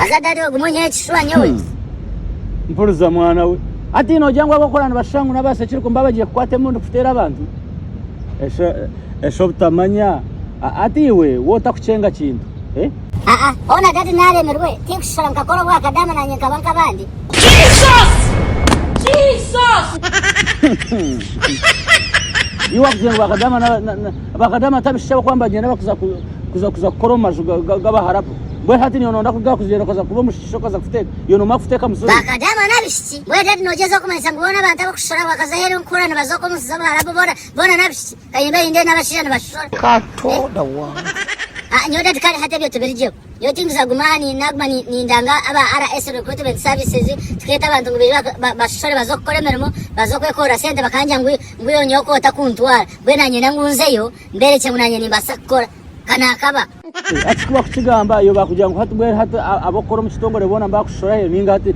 Haza dadi ogume onyihe ekishuba nyowe. Mpuriza mwana we. Hati nogira ngu ab'okukora nibashusha ngu n'abaasa ekirikumba baba bagiye kukwata emundu kuteera abantu? Esha esha obutamanya. Hati iwe w'otakucenga kintu. Eh? Aa, hoona dadi naaremirwe. Tinkushishora nkakora obwakadaama naanye nkaba nk'abandi. Jesus! Jesus! Iwe wakugira ngu bwakadaama na, na, na. bakata amatu abishija bakuba nibagyenda bakuza kuza kuza kukora omu maju g'abaharabu mbwenu hati niyo nonda kugaha kugyenda okaza kuba omushishsha okaza kuteeka iyo nomara kuteeka musuri bakata amanu abishiki mbwenu rero nogyeza kumanyisa ngu boona abantu abakushishora bakaza aheeru nkukora nibaza okwo omu nsi z'abaharabu boona boona n'abishiki kanyimbe hindee n'abashija nibashishora kato dawa ah nyowe dadi kare hati ebyo tibirigyeho. Nyowe tindiza kuguma aha naguma nindanga aba RS Recruitment Services tukeeta abantu ngu baije bashashore baze kukora emirimo baze kwekorera sente bakangira ngu iwe nyowe ku otakuntwara mbwenu niinyenda ngu nzeyo mberekye ngu nanye nimbaasa kukora. Ka naakaba. Hati ku bakukigamba iwe baakugira ngu hati mbwenu hati ab'okukora omu kitongore boona nibakushashora hee nainga hati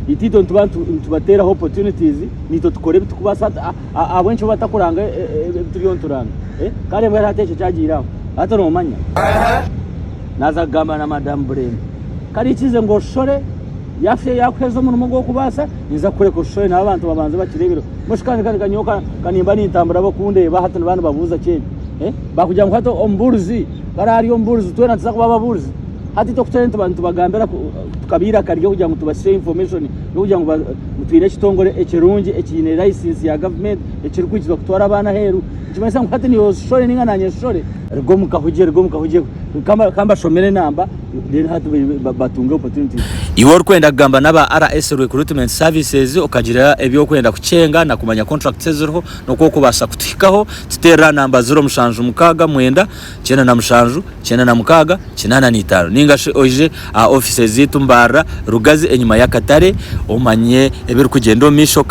itaitwe nituba nitubateeraho opportunities naitwe tukora ebi tukubaasa hati. ahabw'enki bo batakuranga ebi turiyo nituranga? Kare mbwenu hati ekyo kyagiire aho. Hati noomanya naaza kugamba na Madamu Bureende, kare ikize ngu oshore yaakuheereza omurimo gw'okubaasa ninza kukureka oshore nabo abantu babanze bakireebereho. Mushu kandi kandi ka nyowe ka nimba nintambura bakundeeba hati niba nibabuuza ki ekyo? Baakugira ngu hati omubuurizi ku araabe ari omubuurizi twena nituza kuba ababuurizi? Hati itwe ku turabe nitubagambira tukabaira akaryo kugira ngu tubahishe information n'okugira ngu twine ekitongore ekirungi ekiine license ya government ekirikwikiza kutwara abaana aheeru nikimanyisa ngu hati niiwe oshishore ninga naanye nshishore ruga omu kahugye ruga omu kahugye ka mbashomere namba then hati batunge opportunities. Iwe orikwenda kugamba n'aba RS Recruitment Services okagira eby'okwenda kukyenga na kumanya contracts eziriho n'oku okubaasa kutuhikaho, tuteerere aha namba ziro mushanju mukaaga mwenda. kyenda na mushanju, kyenda na mukaaga, kinaana na itaano. Ninga shi oije aha ofiisi zaitu mbaarira Rugazi enyima y'akatare omanye ebirikugyenda omu maisho.